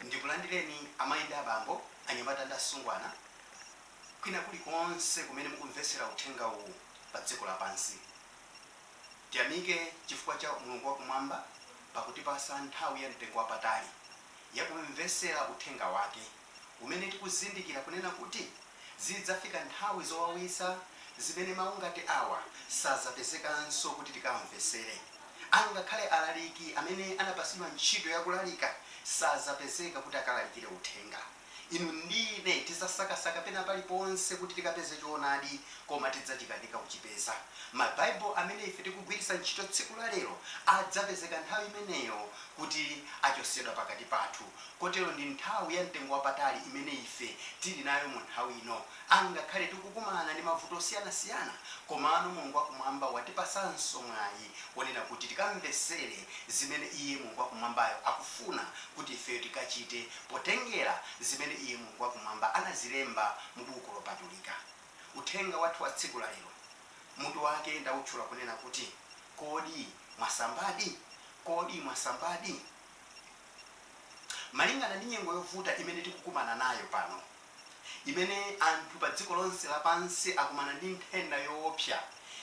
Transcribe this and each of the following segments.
Ndikulandireni amayi ndi abambo, anyamata ndi asungwana, kwina kulikonse kumene mukumvetsera uthenga uwu pa dziko lapansi. Tiyamike chifukwa cha Mulungu wa Kumwamba pakutipatsa nthawi ya mtengo wapatali ya kumvetsera uthenga wake, umene tikuzindikira kunena kuti zidzafika nthawi zowawitsa zimene mawu ngati awa sadzapezekanso kuti tikawamvetsere. angakhale alaliki amene anapatsidwa ntchito ya kulalika sadzapezeka kuti akalalikire uthenga. Inu ndi ine tidzasakasaka pena pali ponse kuti tikapeze choonadi koma tidzachikanika kuchipeza. Mabaibulo amene ife tikugwiritsa ntchito tsiku la lero adzapezeka nthawi imeneyo kuti achotsedwa pakati pathu. Kotero ndi nthawi ya mtengo wapatali imene ife tili nayo mu nthawi ino. Angakhale tikukumana ndi mavuto osiyanasiyana, komano Mulungu wakumwamba watipatsanso mwayi wonena kuti tikamvetsere zimene iye, Mulungu wakumwambayo, akufuna kuti ifeyo tikachite potengera zimene iye, Mulungu wakumwamba, anazilemba mu Buku Lopatulika. Uthenga wathu wa tsiku la lero mutu wake ndautchula kunena kuti, Kodi Mwasambadi? Kodi Mwasambadi? Malingana ndi nyengo yovuta imene tikukumana nayo pano, imene anthu padziko lonse lapansi akumana ndi nthenda yoopsa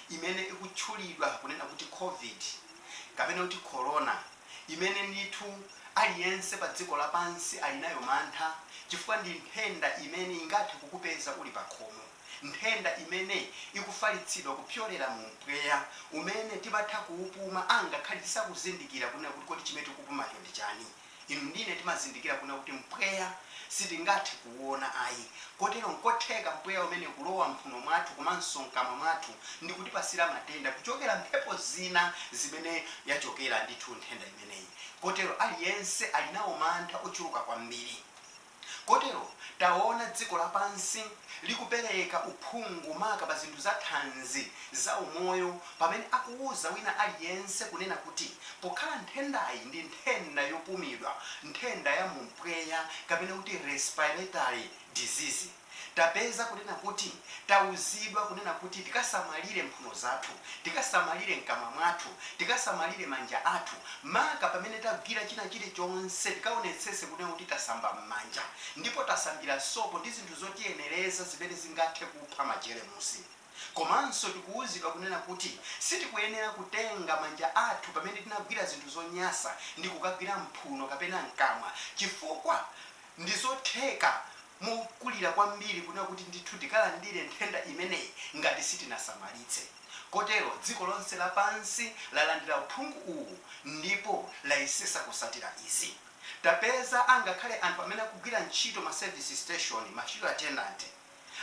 imene ikutchulidwa kunena kuti Covid, kapena kuti Korona, imene ndithu aliyense padziko lapansi ali nayo mantha chifukwa ndi nthenda imene ingathe kukupeza uli pakhomo, nthenda imene ikufalitsidwa kupyolera mu mpweya umene timatha kuupuma angakhale tisakuzindikira kunena kuti kodi chimene tikupumacho ndi chani. Inu ndi ine timazindikira kunena kuti mpweya sitingathe kuona ayi, kotero nkotheka mpweya umene kulowa m'mphuno mwathu komanso mkamwa mwathu ndi kutipasira matenda kuchokera mphepo zina zimene yachokera ndithu nthenda imeneyi kotero aliyense ali nawo mantha ochuluka kwambiri. Kotero, taona dziko lapansi likupereka uphungu maka pa zinthu za thanzi, za umoyo, pamene akuuza wina aliyense kunena kuti pokhala nthendayi ndi nthenda yopumidwa, nthenda ya mu mpweya kapena kuti respiratory disease. Tapeza kunena kuti tauzidwa kunena kuti tikasamalire mphuno zathu, tikasamalire mkamwa mwathu, tikasamalire manja athu, maka pamene tagwira china chilichonse tikaonetsetse kunena kuti tasamba mmanja ndipo tasambira sopo ndi zinthu zotiyenereza zimene zingathe kupha majeremusi. Komanso tikuuzidwa kunena kuti sitikuyenera kutenga manja athu pamene tinagwira zinthu zonyasa ndi kukagwira m'mphuno kapena m'kamwa chifukwa ndi zotheka mokulira kwambiri kunena kuti ndithu tikalandire nthenda imeneyi ngati sitinasamalitse. Kotero dziko lonse lapansi lalandira uphungu uwu ndipo layesesa kusatira izi. Tapeza angakhale anthu amene akugwira ntchito ma service station, ma fuel attendant,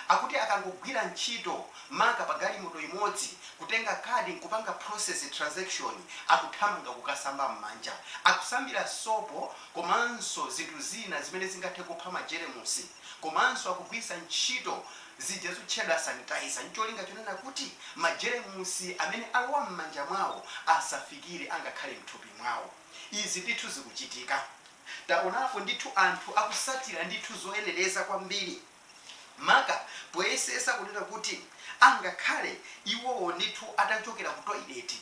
akuti akangogwira ntchito maka pa galimoto imodzi kutenga kadi nkupanga process transaction akuthamanga kukasamba mmanja akusambira sopo komanso zinthu zina zimene zingathe kupha ma jeremusi komanso akugwiritsa ntchito zija zotchedwa sanitizer ncholinga chonena kuti ma jeremusi amene alowa mmanja mwawo asafikire angakhale mthupi mwawo izi ndithu zikuchitika taonapo ndithu anthu akusatira ndithu zoyenereza kwambiri. maka poyesesa kunena kuti angakhale iwowo ndithu atachokera ku toilet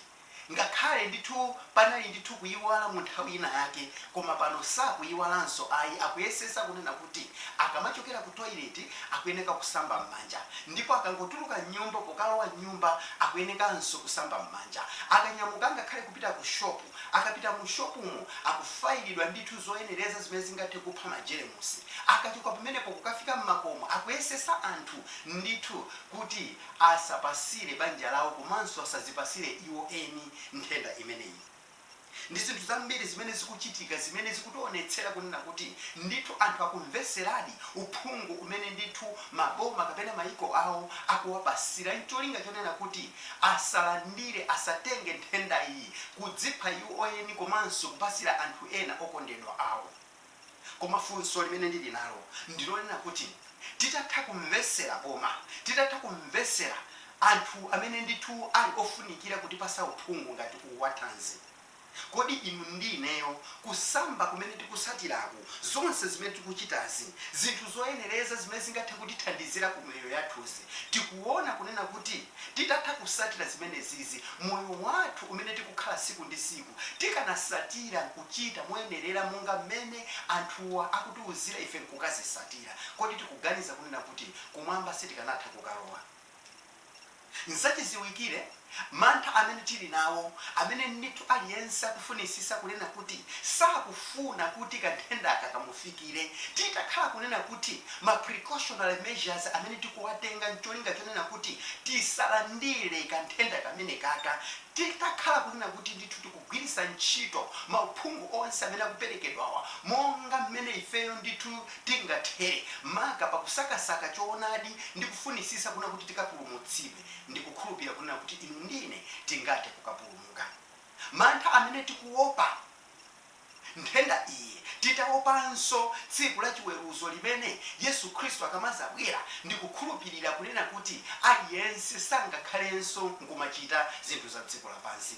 ngakhale ndithu panali ndithu kuyiwala mu nthawi ina yake koma pano sakuyiwalanso ayi akuyesesa kunena kuti akamachokera ku toilet akuyeneka kusamba m'manja ndipo akangotuluka m'nyumba pokalowa m'nyumba akuyenekanso kusamba m'manja akanyamuka angakhale kupita ku shopu Akapita mu shopumo, akufayilidwa ndithu zoyenereza zimene zingathe kupha majeremusi. Akachoka pamenepo kukafika m'makomo, akuyesesa anthu ndithu kuti asapasire banja lawo komanso asazipasire iwo eni nthenda imeneyi. Ndi zinthu zambiri zimene zikuchitika zimene zikutionetsera kunena kuti ndithu anthu akumveseradi uphungu umene ndithu maboma kapena maiko awo akuwapasira ncholinga chonena kuti asalandire, asatenge nthenda iyi, kudzipha iwo eni komanso kupasira anthu ena okondedwa awo. Koma funso limene ndili nalo ndi lonena kuti titatha kumvesera boma, titatha kumvesera anthu amene ndithu ali ofunikira kutipasa uphungu ngati uwu wa thanzi, Kodi inu ndi ineyo, kusamba kumene tikusatiraku, zonse zimene tikuchitazi, zinthu zoyenereza zimene zingathe kutithandizira ku miyoyo yathuzi, tikuona kunena kuti titatha kusatira zimenezizi, moyo wathu umene tikukhala siku ndi siku tikanasatira nkuchita moyenerera monga mmene anthuwa akutiuzira ife nkukazisatira, kodi tikuganiza kunena kuti kumwamba sitikanatha kukalowa? N'zachiziwikire mantha amene tili nawo, amene ndithu aliyense akufunisisa kunena kuti sakufuna kuti kanthendaka kamufikire, titakhala kunena kuti ma precautionary measures amene tikuwatenga n'cholinga chonena kuti tisalandire kanthenda kamenekaka, titakhala kunena kuti ndithu tiku. kugwiritsa ntchito mauphungu onse amene akuperekedwawa monga mmene ifeyo ndithu tingathere, maka pa kusakasaka choonadi ndi kufunitsitsa kunena kuti tikapulumutsidwe. Ndikukhulupirira kunena kuti inu ndi ine tingathe kukapulumuka mantha amene tikuopa nthenda iyi, titaopanso tsiku la chiweruzo limene Yesu Khristu akamadzabwera. Ndikukhulupirira kunena kuti aliyense sangakhalenso nkumachita zinthu za dziko lapansi.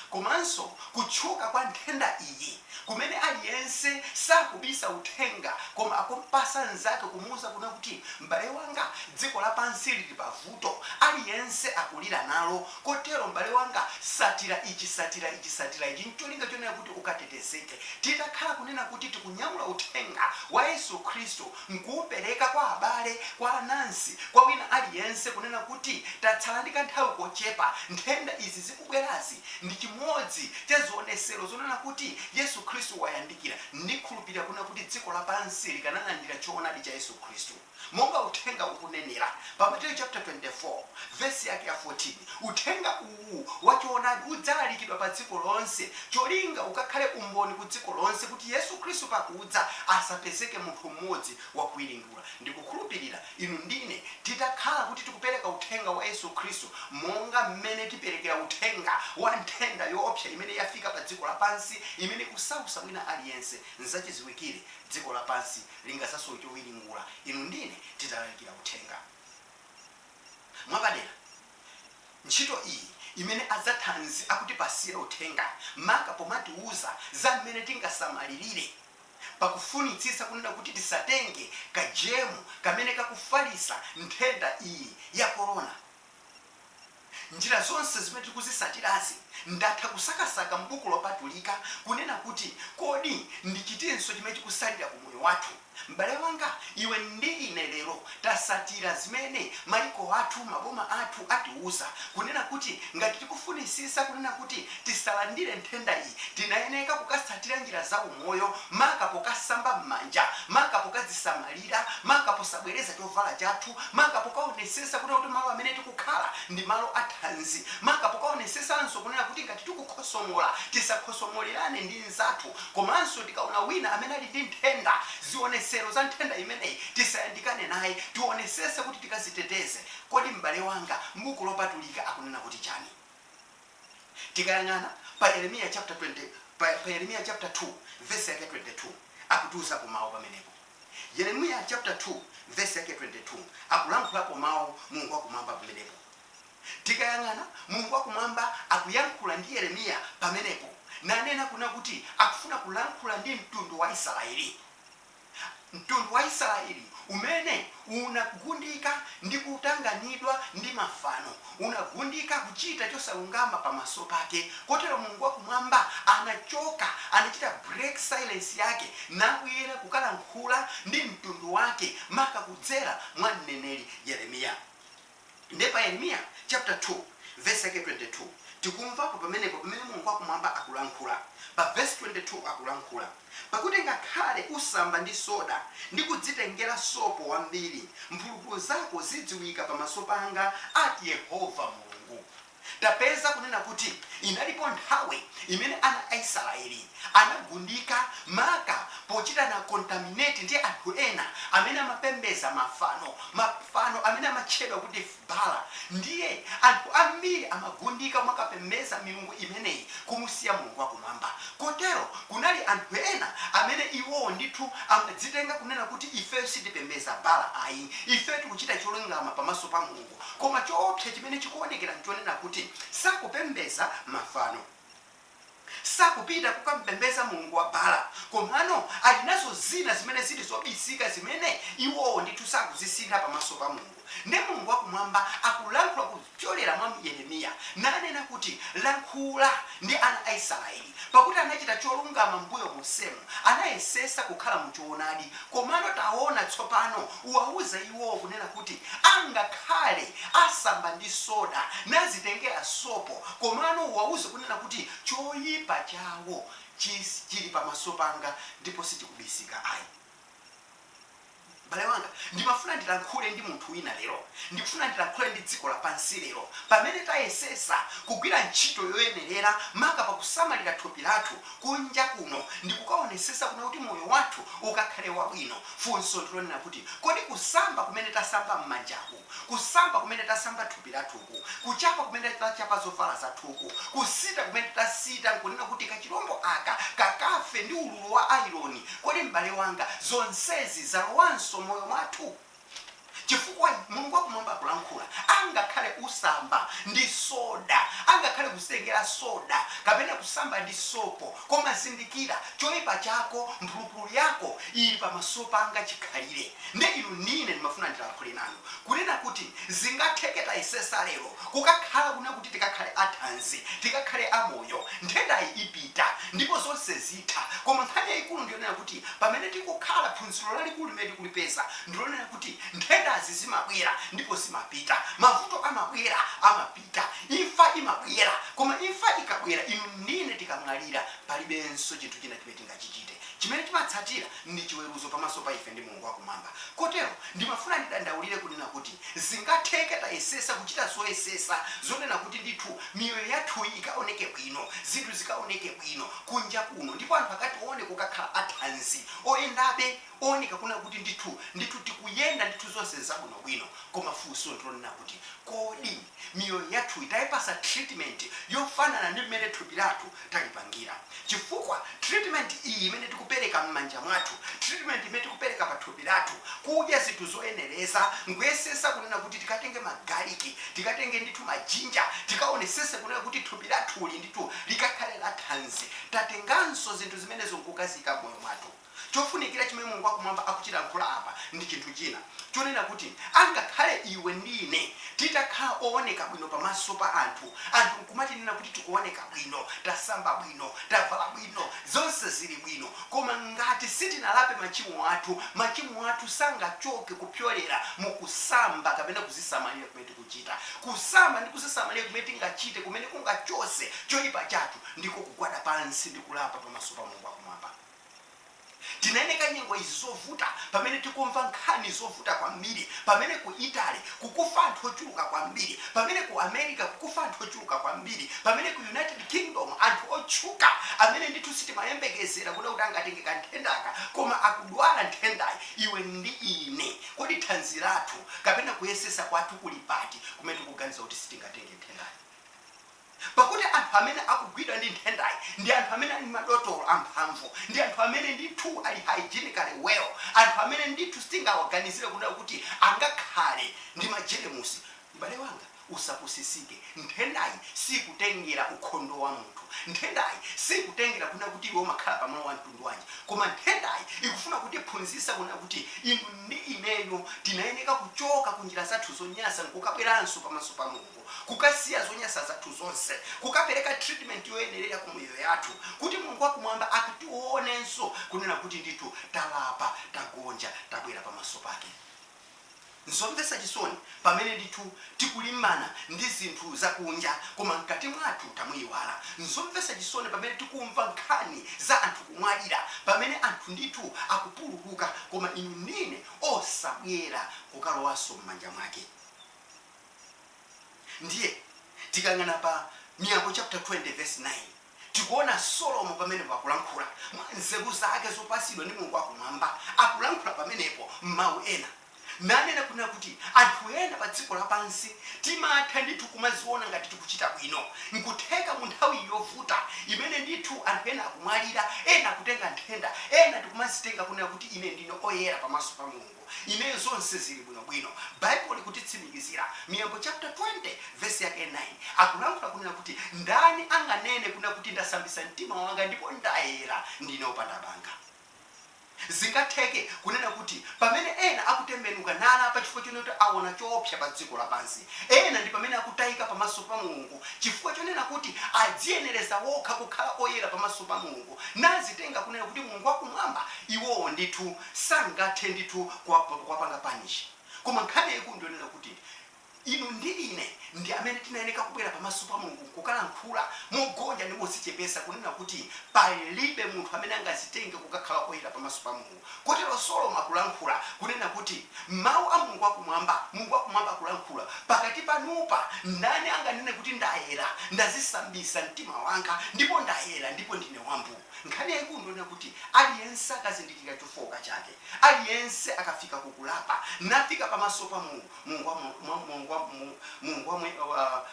komanso kutchuka kwa nthenda iyi kumene aliyense sakubisa uthenga koma akumpasa nzake kumuuza kuna kuti m'bale wanga dziko lapansi lili pa vuto aliyense akulira nalo kotero m'bale wanga satira ichi satira ichi satira ichi ncholinga chonena kuti ukatetezeke titakhala kunena kuti tikunyamula uthenga wa Yesu Khristu n'kuupereka kwa abale, kwa anansi, kwa wina aliyense, kunena kuti, Tatsala ndi kanthawi kochepa. Nthenda izi zikubwerazi ndi chimodzi cha zionetsero zonena kuti Yesu Khristu wayandikira. Ndikhulupirira kunena kuti dziko lapansi likanalandira choonadi cha Yesu Khristu monga uthenga ukunenera pa Matthew chapter 24 verse yake ya 14. Uthenga uwu. uwu wa choonadi udzalalikidwa pa dziko lonse, cholinga ukakhale umboni ku dziko lonse kuti Yesu Khristu pakudza asapezeke munthu m'modzi wakuwiringula. Ndikukhulupirira inu ndine titakhala kuti tikupereka uthenga wa Yesu Khristu monga m'mene tiperekera uthenga wa nthenda yoopsa imene yafika pa dziko lapansi imene ikusausa wina aliyense, nzachiziwikire dziko lapansi lingadzasowe chowiringula inu ndine titalalikira uthenga mwapadera. ntchito iyi imene a zathanzi akutipasira uthenga maka pomatiuza za mmene tingasamalilire pakufunitsitsa kunena kuti tisatenge ka germu kamene kakufalitsa nthenda iyi ya corona njira zonse zimene tikuzisatirazi ndatha kusakasaka mbuku lopatulika kunena kuti kodi ndi chitinso chimene chikusalira ku moyo wathu M'bale wanga, iwe ndi ine lero tasatira zimene maiko athu, maboma athu atiuza, kunena kuti ngati tikufunisisa kunena kuti tisalandire nthenda iyi, tinayeneka kukasatira njira za umoyo, maka pokasamba m'manja, maka pokadzisamalira, maka posabwereza chovala chathu, maka pokaonesesa kunena kuti malo amene tikukhala ndi malo a thanzi, maka pokaonesesanso kunena kuti ngati tikukhosomola, tisakhosomolerane ndi. anzathu komanso tikaona wina amene ali ndi nthenda, zionetsero za nthenda imeneyi tisayandikane naye. Tionesetse kuti tikaziteteze. Kodi m'bale wanga m'buku lopatulika akunena kuti chani? Tikayang'ana pa Yeremiya chapter 20 pa Yeremiya chapter 2 verse yake 22 akutiuzapo mau pamenepo. Yeremiya chapter 2 verse yake 22 akulankhulapo mau Mulungu wakumwamba pamenepo. Tikayang'ana, Mulungu wa Kumwamba akuyankhula ndi Yeremiya pamenepo, nanena kuna kuti akufuna kulankhula ndi mtundu wa Isaraeli, mtundu wa Isaraeli umene unagundika ndi kutanganidwa ndi mafano, unagundika kuchita chosalungama pamaso pake. Kotero Mulungu wa Kumwamba anachoka, anachita break silence Yake, nakuyenda kukalankhula ndi mtundu Wake, maka kudzera mwa mneneri Yeremiya. Nde pa Yeremiya chapter 2 verse yake 22 tikumvapo pamenepo pamene Mulungu wakumwamba akulankhula. Pa verse 22 akulankhula, Pakuti ngakhale usamba ndi soda ndi kudzitengera sopo wambiri, mphulupulu zako zidziwika pamaso panga, ati Yehova Mulungu. tapeza kunena kuti inalipo nthawi imene ana a Isiraeli anagundika maka pochitana contaminate ndi anthu ena amene amapembeza mafano, mafano amene amatchedwa kuti Baala. Ndiye anthu ambiri amagundika kumakapembeza milungu imeneyi kumusiya Mulungu wa Kumwamba. Kotero kunali anthu ena amene iwowo ndithu amadzitenga kunena kuti ifeyo sitipembeza Baala ayi, ifeyo tikuchita cholungama pamaso pa Mulungu. koma choopsa chimene chikuonekera n'chonena kuti sakupembeza mafano. Sakupita kukam'pembeza mulungu wa Baala, komano ali nazo zina zimene zili zobisika zimene iwowo ndithu sakuzisintha pamaso pa Mulungu. Ndiye Mulungu wakumwamba akulankhula kupyolera mwa Yeremiya, nanena kuti, Lankhula ndi ana a Isiraeli, pakuti anachita cholungama m'mbuyo monsemu, anayesesa kukhala mu choonadi, komano taona, tsopano Uwauza iwowo kunena kuti, Angakhale asamba ndi soda, nazitengera sopo, komano uwauze kunena kuti, Choipa chawo chili pamaso panga ndipo sichikubisika ayi. M'bale wanga, ndimafuna ndilankhule ndi munthu wina lero. Ndikufuna ndilankhule ndi dziko lapansi lero. Pamene tayesesa kugwira ntchito yoyenerera, maka pa kusamalira thupi lathu kunja kuno ndi kukaonesesa kuna kuti moyo wathu ukakhale wabwino, Funso ndi lonena kuti, kodi kusamba kumene tasamba m'manjaku, kusamba kumene tasamba thupi lathuku, kuchapa kumene tachapa zovala zathuku, kusita kumene tasita n'kunena kuti kachilombo aka kakafe ndi ululu wa ayironi, kodi m'bale wanga, zonsezi zalowanso moyo mwathu? Chifukwa, Mulungu wa Kumwamba akulankhula, angakhale usamba ndi soda, angakhale kuzitengera soda, kapena kusamba ndi sopo, koma zindikira, choipa chako, mphulupulu yako, ili pamaso Panga chikhalire. Nde inu n'ine ndimafuna ndilankhule nanu, kunena kuti zingatheke tayesesa lero kukakhala kuna kuti tikakhale athanzi, tikakhale amoyo, nthendayi ipita, ndipo zonse zitha. Koma nkhani yayikulu ndi yonena kuti pamene tikukhala, phunziro lalikulu limene tikulipeza, ndi lonena kuti nthendazi zimabwera ndipo zimapita, mavuto amabwera, amapita, imfa imabwera, koma imfa ikabwera, inu ndi ine tikamwalira, palibenso chinthu china chimene tingachichite. Chimene chimatsatira ndi chiweruzo pamaso pa ife ndi Mulungu Wakumwamba. Kotero, ndimafuna ndidandaulire kunena kuti zingatheke tayesesa kuchita zoyesesa zonena kuti ndithu miyoyo yathu ikaoneke bwino, zinthu zikaoneke bwino kunja kuno ndipo anthu akatione kukakhala athanzi, oyendabe. Ooneka kunena kuti ndithu, ndithu tikuyenda ndithu zonse nzabwino bwino koma funso ndilonena kuti kodi miyoyo yathuyi taipasa treatment yofanana ndi mmene thupi lathu talipangira? Chifukwa treatment iyi imene tikupereka mmanja mwathu, treatment imene tikupereka pa thupi lathu, kudya zinthu zoyenereza, nkuyesesa kunena kuti tikatenge ma garlic, tikatenge ndithu ma ginger, tikaonesese kunena kuti thupi lathuli ndithu likakhale la thanzi, tatenganso zinthu zimenezo nkukaziika mmoyo mwathu. Chofunikira chimene Mulungu wa Kumwamba akuchilankhula apa ndi chinthu china, chonena kuti, angakhale iwe ndi ine titakhala owoneka bwino pamaso pa anthu, anthu nkumatinena kuti tikuwoneka bwino, tasamba bwino, tavala bwino, zonse ziri bwino, koma ngati sitinalape machimo athu, machimo athu sangachoke kupyolera mu kusamba kapena kuzisamalira kumene tikuchita. Kusamba ndi kuzisamalira kumene tingachite kumene kungachotse choipa chathu ndiko kugwada pansi ndi kulapa pamaso pa Mulungu wa Kumwamba. Tinaeneka nyengo izi zovuta pamene tikumva nkhani zovuta kwambiri, pamene ku Italy kukufa anthu ochuluka kwambiri, pamene ku America kukufa anthu ochuluka kwambiri, pamene ku United Kingdom anthu otchuka amene ndithu sitimayembekezera kunena kuti angatenge ka nthendaka koma akudwala nthendayi, iwe ndi ine kodi thanzi lathu kapena kuyesesa kwathu kuli pati kumene tikuganiza kuti sitingatenge nthendayi? Pakuti anthu amene akugwidwa ndi nthendayi ndi anthu amene ali madotolo amphamvu, ndi anthu amene ndithu ali hygienically well, anthu amene ndithu sitingawaganizire kunena kuti angakhale ndi majeremusi. M'bale wanga, usapusisike. Nthendayi sikutengera ukhondo wa munthu. Nthendayi sikutengera kunena kuti iwe umakhala pa malo a mtundu wanji. Koma nthendayi ikufuna kutiphunzitsa kunena kuti inu ndi ineyo tinayeneka kuchoka ku njira zathu zonyasa nkukabweranso pamaso pa Mulungu. kukasiya zonyasa zathu zonse, kukapereka treatment yoyenerera ku miyoyo yathu, kuti Mulungu wa Kumwamba akationenso, kunena kuti ndithu talapa, tagonja, tabwera pamaso Pake. Nzomvetsa chisoni pamene ndithu tikulimbana ndi zinthu za kunja, koma mkati mwathu tamuyiwala. Nzomvetsa chisoni pamene tikumva nkhani za anthu kumwalira, pamene anthu ndithu akupululuka, koma inu ndine osabwera kukalowanso m'manja Mwake. ndiye tikayang'ana pa miyambo chapter 20 verse 9 tikuona solomo pamenepo akulankhula mwa nzeru zake zopasidwa ndi mulungu wakumwamba akulankhula pamenepo m'mawu ena nanena kunena kuti anthu ena pa dziko lapansi timatha ndithu kumaziona ngati tikuchita bwino nkutheka mu nthawi yovuta imene ndithu anthu ena akumwalira ena akutenga nthenda ena tikumazitenga kunena kuti ine ndine oyera pamaso pa mulungu ineyo zonse zili bwino bwino. Baibulo likutitsimikizira. Miyambo chapter 20 verse yake 9 akulankhula kunena kuti ndani anganene kunena kuti ndasambisa mtima wanga ndipo ndayera ndine opanda banga? Zingatheke kunena kuti pamene ena akutembenuka nalapa chifukwa chonena kuti awona choopsa pa dziko lapansi, ena ndi pamene akutayika pamaso pa Mulungu chifukwa chonena kuti adziyenereza wokha kukhala oyera pamaso pa Mulungu nazitenga kunena kuti Mulungu wa kumwamba iwowo ndithu sangathe ndithu kuwapanga punish koma nkhani yaikulu ndiyonena kuti inu ndi ine ndi amene tinayeneka kubwera pamaso pa Mulungu kukalankhula mogonja ndi mozichepesa kunena kuti palibe munthu amene angazitenge kukakhala oyera pamaso pa Mulungu kotero solomo akulankhula kunena kuti mau a Mulungu wakumwamba Mulungu wakumwamba akulankhula pakati panupa ndani anganene kuti ndayera ndazisambisa mtima wanga ndipo ndayera ndipo ndine wambu Nkhani yaikulu ndionena kuti aliyense akazindikira chofooka chake, aliyense akafika ku kulapa, nafika pamaso pa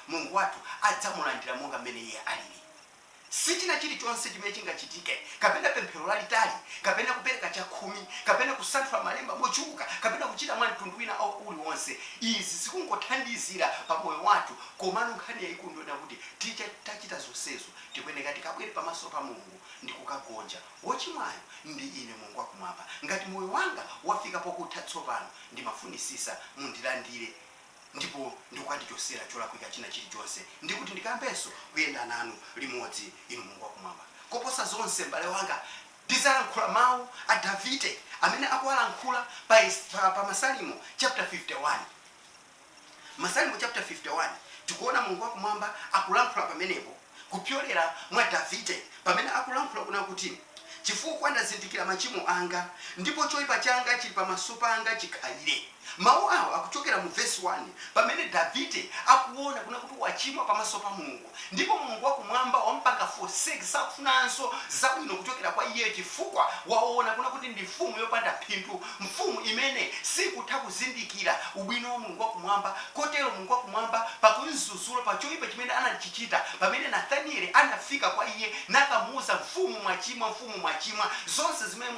Mulungu wathu adzamulandira monga mmene iye aliri. Sichina chilichonse chimene chingachitike, kapena pemphero lalitali, kapena kupereka chakhumi, kapena kusanthula malemba mochuluka, kapena kuchita mwa mtundu wina o, uliwonse. Izi zikungothandizira pa moyo wathu, komano nkhani yaikulu ndionena kuti tita, tachita zonsezo, Tikuyeneka tikabwere pamaso pa Mulungu ndi kukagonja, Wochimwayo ndi ine, Mulungu wa Kumwamba, ngati moyo wanga wafika pokutha tsopano, ndimafunisisa mundilandire ndipo ndikukandichosera cholakwika china chirichonse, ndi kuti ndikayambenso kuyenda nanu limodzi, Inu Mulungu wa Kumwamba. Koposa zonse, m'bale wanga, ndidzalankhula mawu a Davide amene akuwalankhula pa Masalimo chapter 51. Masalimo chapter 51 tikuona mulungu wakumwamba akulankhula pamenepo kupyolera mwa davide pamene akulankhula kunena kuti chifukwa ndazindikira machimo anga ndipo choipa changa chili pamaso panga chikhalire mawu awo akuchokera mu vesi 1 pamene davide akuona kunena kuti wachimwa pamaso pa mulungu Ndipo Mulungu wa Kumwamba wamupanga forsake, sakufunanso zabwino kuchokera kwa iye, chifukwa waona kunena kuti ndi mfumu yopanda phindu, mfumu imene sikutha kuzindikira ubwino wa Mulungu wa Kumwamba, kotero Mulungu wa Kumwamba pakumzuzula pa choipa chimene anachichita, pamene Nathaniele anafika kwa iye nakamuuza, Mfumu mwachimwa, mfumu mwachimwa, zonse zimene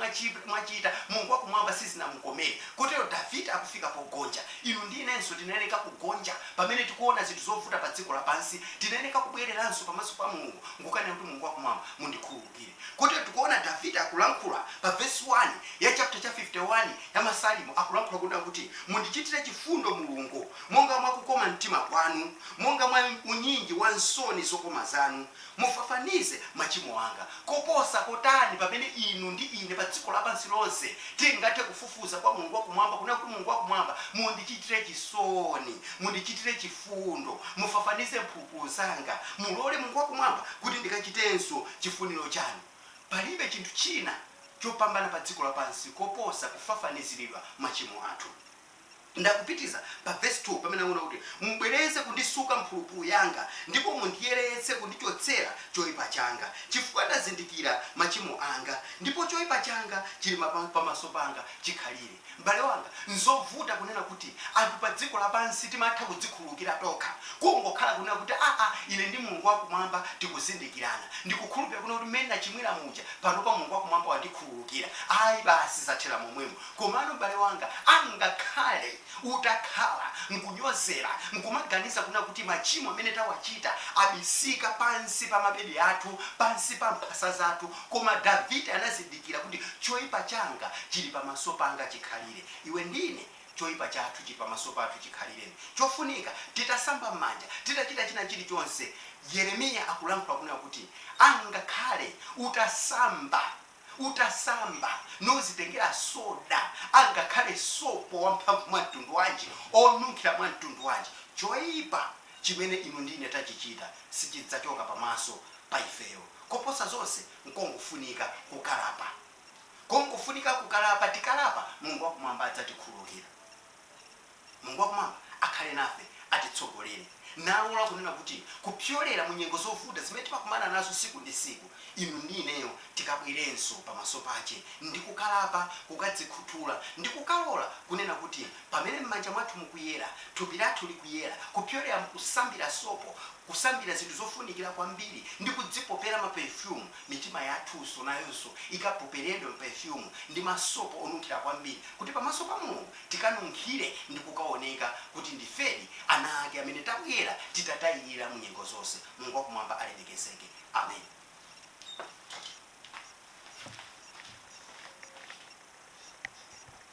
mwachita Mulungu wa Kumwamba sizinamukomere, kotero Davide akufika pogonja, inu ndi inenso tinayeneka kugonja. Pamene tikuona zinthu zovuta pa dziko lapansi, tinayeneka kubweleranso pamaso pa Mulungu nkukanena kuti, Mulungu wakumwamba, mundikhululukire. Kotero tikuona Davide akulankhula pa vesi 1 ya chapter cha 51 ya Masalimo, akulankhula kunena kuti, Mundichitire chifundo, Mulungu, monga mwa kukoma mtima kwanu, monga mwa unyinji wa nsoni zokoma zanu. mufafanize machimo anga. Koposa kotani pamene inu ndi ine pa dziko lapansi lonse tingathe kufufuza kwa Mulungu wa Kumwamba, kunena kuti, Mulungu wa Kumwamba, mundichitire chisoni, mundichitire chifundo, mufafanize mphulupulu zanga, mulole, Mulungu wa Kumwamba, kuti ndikachitenso chifuniro Chanu. Palibe chinthu china chopambana pa dziko lapansi koposa kufafaniziridwa machimo athu. Nde akupitiriza pa vesi 2 pamene akunena kuti, Mubwereze kundisuka mphulupulu yanga, ndipo mundiyeretse kundichotsera choipa changa, chifukwa ndazindikira machimo anga, ndipo choipa changa chili mapa, pamaso panga chikhalire. M'bale wanga, n'zovuta kunena kuti anthu padziko lapansi timatha kudzikhululukira tokha, kungokhala kunena kuti, Aa, ine ndi Mulungu wa Kumwamba tikuzindikirana. Ndikukhulupirira kunena kuti mmene ndachimwira muja, panopa Mulungu wa Kumwamba wandikhululukira. Ayi, basi zathera momwemo. Komano m'bale wanga, angakhale utakhala n'kunyozera n'kumaganiza kuna kuti machimo amene tawachita abisika pansi pa mabedi athu, pansi pa mphasa zathu, koma Davide anazindikira kuti choipa changa chili pamaso panga chikhalire. Iwe ndi ine, choipa chathu chili pamaso pathu chikhalire. Chofunika, titasamba m'manja, titachita china chili chonse, Yeremiya akulankhula kuna kuti, angakhale utasamba. utasamba nodzitengera soda, angakhale sopo wamphamvu mwa mtundu wanji, onunkhira mwa mtundu wanji, choipa chimene inu ndi ine tachichita sichidzachoka pamaso pa ifeyo. Koposa zonse, nkongofunika kukalapa. Kongofunika kukalapa. Tikalapa, Mulungu wa Kumwamba adzatikhululukira. Mulungu Wakumwamba akhale nafe, atitsogolere, nalola kunena kuti kupyolera mu nyengo zovuta zimene timakumana nazo siku ndi siku, inu ndi ineyo tikabwerenso pamaso pake ndi kukalapa, kukadzikhuthula, ndi kukalola kunena kuti pamene m'manja mwathu mukuyera, thupi lathu likuyera kupyolera mu kusambira sopo, kusambira zinthu zofunikira kwambiri, ndi kudzipopera ma perfume, mitima yathunso nayonso ikapoperedwe ma perfume ndi masopo onunkhira kwambiri kuti pamaso pa Mulungu tikanunkhire ndi kukaoneka kuti ndifedi ana ake amene tabwera titatayirira mu nyengo zonse. Mulungu wa Kumwamba alemekezeke. Amen.